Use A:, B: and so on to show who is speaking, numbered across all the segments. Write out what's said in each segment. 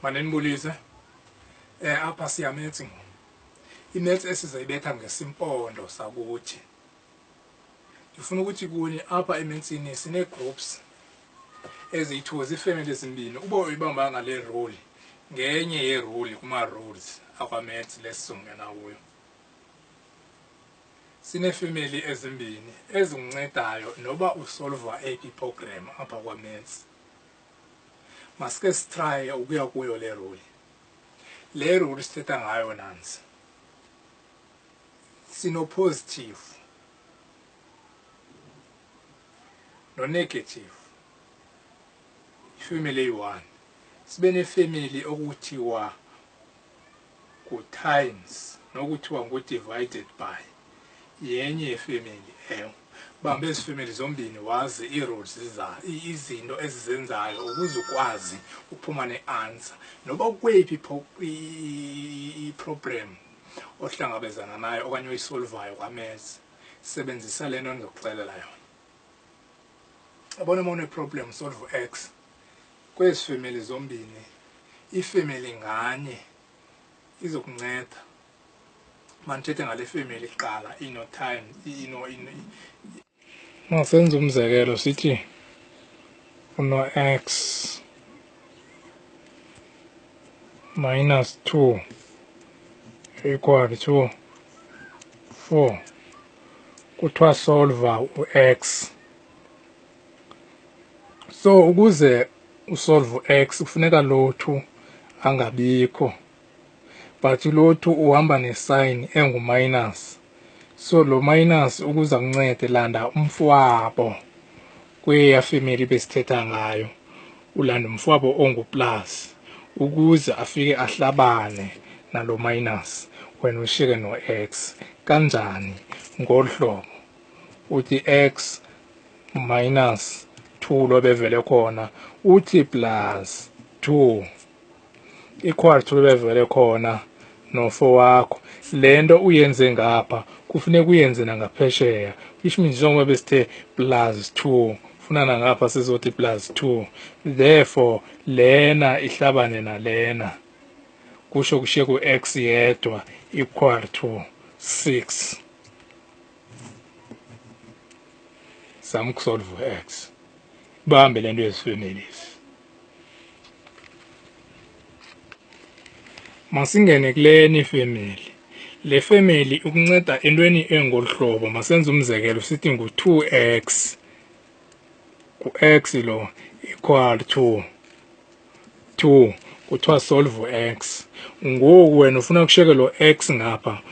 A: manenibulise um eh, apha siyametsi ngoku imetsi esizayibetha ngesimpondo sakuthi ndifuna ukuthi kuni apha emetsini sinee-groups eziyi-two ziifemeli ezimbini uba uyibambanga le roli ngenye yeroli kuma-roles akwametsi lesizongena kuyo sineefemeli ezimbini ezinguncedayo noba usolva ap program apha kwametsi masike sitraye ukuya kuyo le roli le roli sithetha ngayo nansi sinopositive nonegative ifamily eyi-one sibe nefamily okuthiwa kutimes nokuthiwa ngu-divided by yenye yefemeli ewe bamba ezi femeli zombini wazi ii-rules izinto ezizenzayo ukuze ukwazi uphuma ne-answer noba ukweyiphi iproblem ohlangabezana nayo okanye oyisolvayo kwamezi sebenzisa le nto ndizokuxelela yona abona uma uneproblem solve u-x kwezi femeli zombini ifemeli nganye izokunceda mandithethe ngale femeli kuqala inotime ino masenze umzekelo sithi uno-x minus 2 equal to 4 kuthiwa solver u-x so ukuze usolve u-x kufuneka lo two angabikho but lo two uhamba nesign enguminus so lo minus ukuza kuncede landa umfwabo kweya femeli besithetha ngayo ulanda umfwabo onguplus ukuze afike ahlabane nalo minus wena ushiyeke no-x kanjani ngolu hlobo uthi x minus 2 lobevele khona uthi plus 2 ikwartu bebevele khona nofo wakho le nto uyenze ngapha kufuneka uyenze nangaphesheya which means njengoba besithe plus two funa nangapha sizothi plus two therefore lena ihlabane nalena kusho kushiye ku-x yedwa equal to six zama ukusolve u-x bambe le nto yezifemeli masingene kule ni family le family ukunceda entweni engolu hlobo masenze umzekelo sithi ngu-2x ku-x lo equal to 2 kuthiwa solve x ngoku wena ufuna kusheke lo x ngapha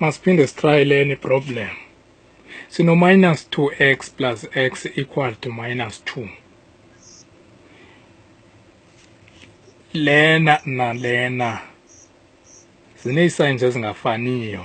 A: masiphinde sitry leni problem sino-minus 2x plus x equal to minus 2 lena nalena zineesigns ezingafaniyo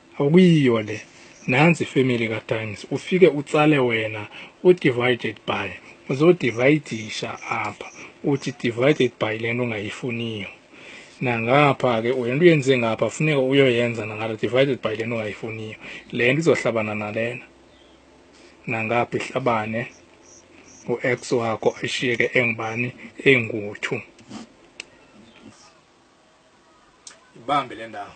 A: akuyiyo le nansi ifamily katimes ufike utsale wena udivided by uzodivayidisha apha uthi divided by le nto ungayifuniyo nangapha ke le nto uyenze ngapha funeka uyoyenza nangala divided by le nto ungayifuniyo le nto izohlabana nalena nangapha ihlabane u-x wakho ashiyeke engubani engu-two ibambe le ndawo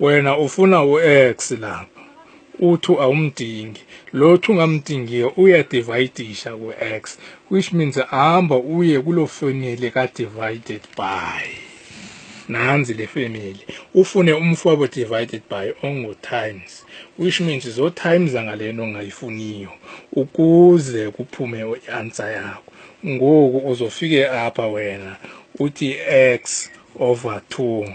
A: wena ufuna u-x lapha u-2 awumdingi lo 2 ngamdingiyo uyadivayidisha ku-x which means hamba uye kuloo family ka-divided by nanzi le family ufune umfwabo divided by ongu-times which means zo-times angale nto ongayifuniyo ukuze kuphume i-answer yakho ngoku uzofike apha wena uthi x over 2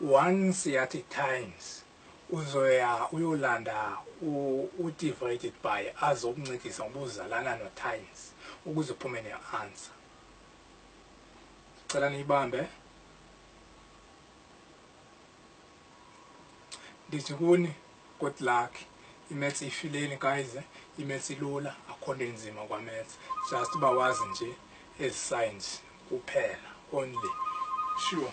A: once at a times uzoya uyolanda udivided by azokuncedisa ngoba uzalana notimes ukuze uphume ne-answer cela niyibambe ndithi kuni good luck imaths ifileni guys eh? imaths ilula akho nto enzima kwamaths just uba wazi nje ezi science kuphela only sure